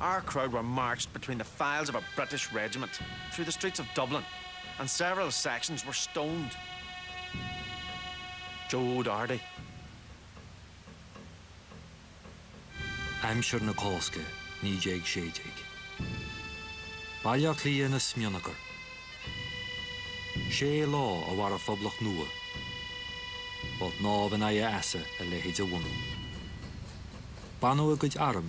Our crowd were marched between the files of a British regiment through the streets of Dublin and several sections were stoned. Joe O'Doherty. Aimsir na Cásca 1916. Baile Átha Cliath ina smionagar. Sé lá a mhair an Phoblacht nua. Ba shnámh in aghaidh easa a leithéid a bhunú. Baineadh a gcuid arm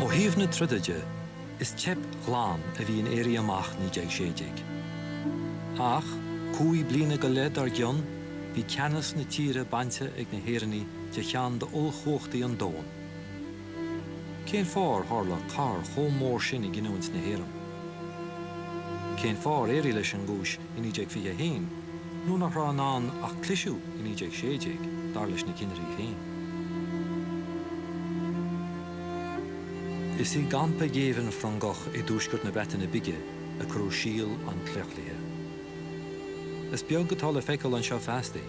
Ó thaobh na troda de, is teip ghlan a bhí in Éirí Amach 1916. Ach, cúig bliana go leith dár gcionn, bhí ceannas na tíre bainte ag na hÉireannaigh de cheann d'ollchumhachtaí an domhain. Cén fáth ar tharla cor chomh mór sin i gcinniúint na hÉireann? Cén fáth ar éirigh leis an gcúis i 1921, nuair nach raibh i ndán ach cliseadh i 1916, dar leis na cinnirí féin. Is i gcampa géibhinn Frongoch i dtuaisceart na Breataine Bige a cuireadh síol an claochlaithe. Is beag atá le feiceáil anseo feasta,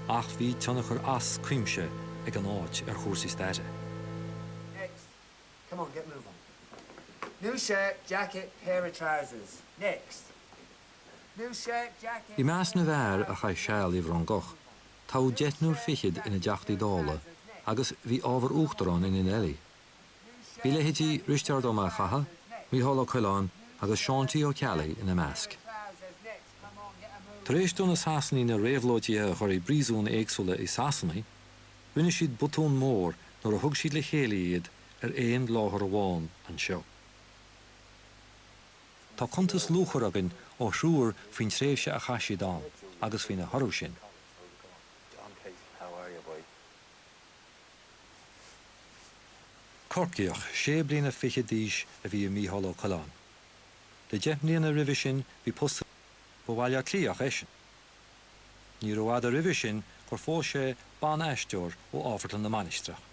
ach bhí tionchar as cuimse ag an áit ar chúrsaí staire. Next. Come on, get moving. New shirt, jacket, pair of trousers. Next. New shirt, I jacket, measc na pair of bhfear a chaith trousers. seal i Next. bhFrongoch, Moving on. toghadh New deichniúr shirt, fichead ina jacket, dTeachtaí pair of Dála trousers. Next. agus bhí ábhar Moving on. uachtaráin in Next. Enelli. New Bhí shirt, leithéidí jacket, Risteárd pair Ó of Mac Catha, trousers. Next. Micheál Ó Coileáin New agus Seán shirt, T. Ó Ceallaigh jacket, ina pair measc. of trousers. Next. Come on, get a move Tar éis on. do na Sasanaigh na réabhlóidithe a chur i bpríosúin éagsúla i Sasana, Rinne siad botún mór nuair a thug siad le chéile iad ar aon láthair amháin anseo. Tá cuntas luachmhar againn ó thriúr faoin tréimhse a chaith siad ann agus faoina thoradh sin. Corcaíoch, sé bliana fichead d'aois a bhí i Mícheál Ó Coileáin. Le deich mbliana roimhe sin bhí post ba Bhaile Átha Cliathach eisean Níorbh fhada roimhe sin gur phós sé ban-aisteoir ó Amharclann na Mainistreach.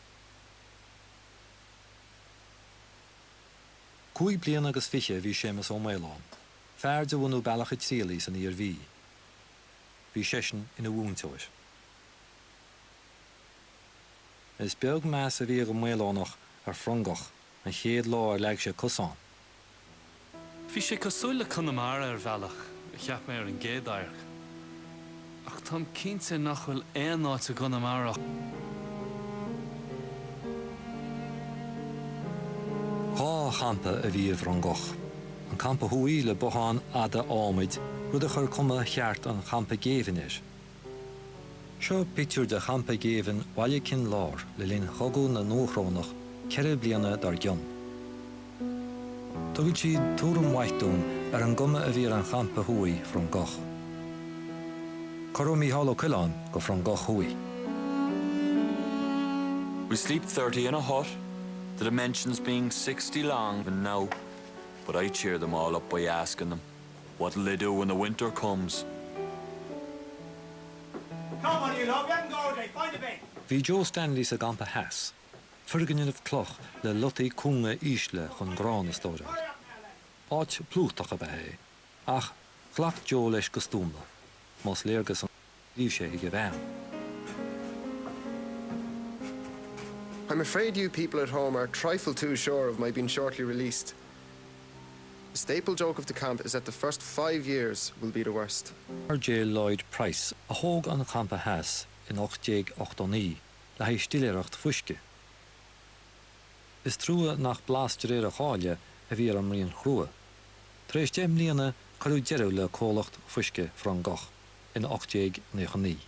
Cúig bliana agus fiche a bhí Séamas Ó Maoileoin, fear de bhunadh Bealach an Tirialaigh san Iarmhí. Bhí seisean ina mhúinteoir. Is beag meas a bhí ag an Maoileonach ar Frongoch an chéad lá ar leag sé cos ann. Bhí sé cosúil le Conamara ar bhealach, a cheap mé ar an gcéad amharc. Ach táim cinnte nach bhfuil aon áit i gConamara chomh. Dhá champa a bhí i bhFrongoch, an Campa Thuaidh le botháin fhada ádhmaid, rud a chuir cuma cheart an champa géibhinn air, Seo pictiúr de champa géibhinn Bhaile Cinn Lár le linn chogadh na nDúchrónach ceithre bliana dár gcionn. Tugann siad tuairim mhaith dúinn ar an gcuma a bhí ar an champa thuaidh, Frongoch. Cuireadh Mícheál Ó Coileáin go Frongoch Thuaidh. We sleep thirty in a hut, the dimensions being sixty long even now, but I cheer them all up by asking them. What will they do when the winter comes? Come on, you lot, we haven't got all day, find a bed! Bhí Joe Stanley sa gcampa theas, foirgneamh cloch le lotaí cúnga ísle chun grán a stóráil. Áit plúchtach ab ea é, ach ghlac Joe leis go stuama, más léargas an.. litir seo chuig a bhean. I'm afraid you people at home are a trifle too sure of my being shortly released. The staple joke of the camp is that the first five years will be the worst. RJ Lloyd Price a thóg an Campa Theas in 1889 le haghaidh stiléireacht fuisce. Is trua nach blas de réir a cháil a bhí ar an mbraon chrua. Tar éis deich mbliana cuireadh deireadh le comhlacht fuisce Frongoch. in 1899.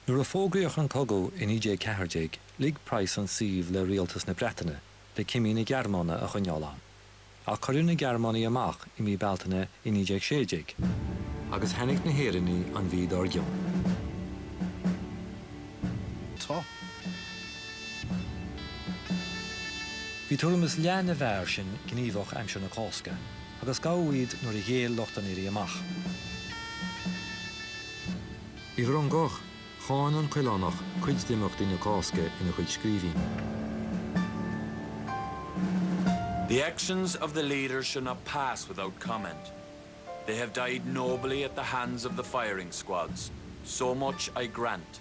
Nuair a fógraíodh an cogadh i 1914, lig Price an suíomh le rialtas na Breataine le cimí na Gearmáine a choinneáil ann. Ach cuireadh na Gearmánaigh amach i mí Bealtaine i 1916, agus tháinig na hÉireannaigh an mhí dár gcionn. Bhí tuairim is leath na bhfear sin gníomhach aimsir na Cásca. agus gabhadh iad nuair a ghéill lucht an Éirí Amach. I bhFrongoch, cháin an Coileánach cuid d'imeachtaí na Cásca ina chuid scríbhinní. The actions of the leaders should not pass without comment. They have died nobly at the hands of the firing squads, so much I grant,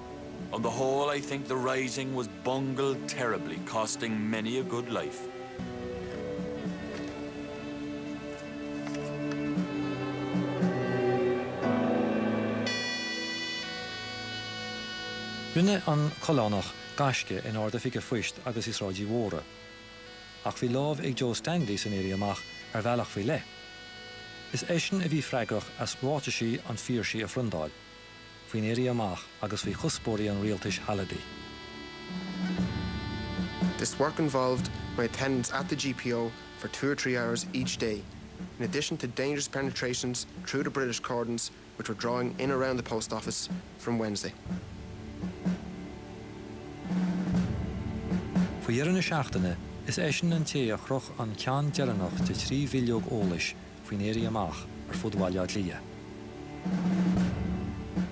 On the whole I think the Rising was bungled terribly, costing many a good life. Rinne an Coileánach gaisce in Ard-Oifig an Phoist agus i Sráid Uí Mhórdha. Ach bhí lámh ag Joe Stanley san Éirí Amach ar bhealach faoi leith. Is eisean a bhí freagrach as ráitisí an Phiarsaigh a phriondáil. faoin Éirí Amach agus faoi chuspóirí an rialtais shealadaigh. This work involved my attendance at the GPO for two or three hours each day, in addition to dangerous penetrations through the British cordons which were drawing in around the post office from Wednesday. Faoi dheireadh na seachtaine, is eisean an té a chroch an ceann deireanach de thrí bhileog eolais faoin Éirí Amach ar fud Bhaile Átha Cliath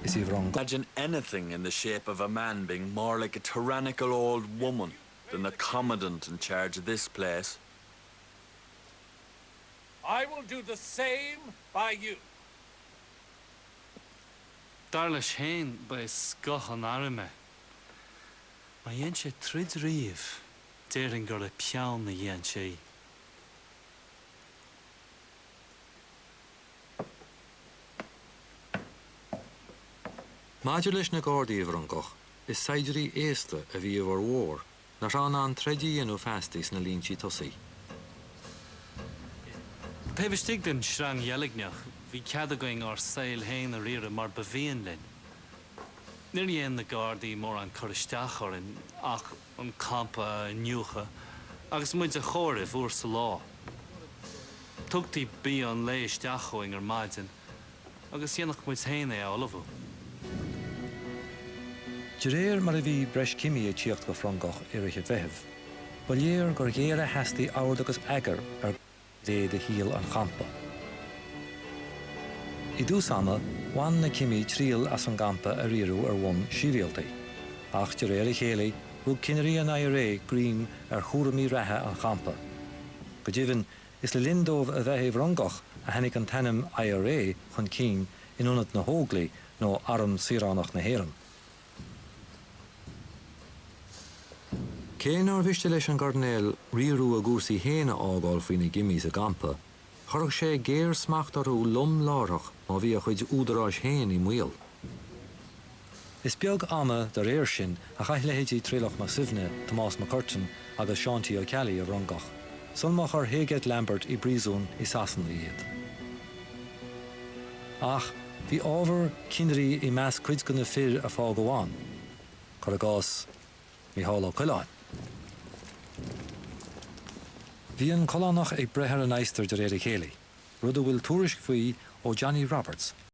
is i bhFrongoch. Imagine anything in the shape of a man being more like a tyrannical old woman than the commandant in charge of this place. I will do the same by you. Dar leis féin, ba é scoth an airm é. Má dhein sé troid riamh, déarfainn gur le peann a dhein sé í. Maidir leis na Gardaí i bhFrongoch, is saighdiúirí aosta a bhí i bhformhór, nach raibh in ann troid a dhéanamh feasta sna líntí tosaigh. Taobh istigh den tsreang dheilgneach, bhí cead againn ár saol féin a riaradh mar ba mhian linn. Níor dhéan na Gardaí mórán cur isteach orainn ach. an campa a iniúchadh agus muid a chomhaireamh uair sa lá. Tugtaí bia an lae isteach chugainn ar maidin agus dhéanfadh muid féin é a ullmhú. De réir mar a bhí breis cimí ag tíocht go Frongoch i rith an Mheithimh, ba léir gur ghéar a theastaigh ord agus eagar ar. ghné de shaol an champa. I dtús ama, bhain na cimí triail as an gcampa a riaradh ar bhonn sibhialta, ach de réir a chéile, rug cinnirí an IRA greim ar chúraimí reatha an champa. Go deimhin, is le linn dóibh a bheith i bhFrongoch a tháinig an t-ainm IRA chun cinn in ionad na hÓglaigh nó Arm Saoránach na hÉireann. Cé nár mhiste leis an gCoirnéal riaradh a gcúrsaí fhéin a fhágáil faoi na cimí sa gcampa, chuirfeadh sé géarsmacht orthu lom láithreach má bhí a chuid údaráis fhéin i mbaol. Is beag ama dá réir sin a chaith leithéidí Traolach Mac Suibhne, Tomás Mac Curtáin agus Seán T. Ó Ceallaigh i bhFrongoch, sul má chuir Heygate Lambert i bpríosún i Sasana iad. Ach bhí ábhar cinnirí i measc cuid de na fir a fágadh ann, cuir i gcás Micheál Ó Coileáin. Bhí an Coileánach ag breith ar an adhastar de réir a chéile, rud a bhfuil tuairisc faoi ó Johnny Roberts,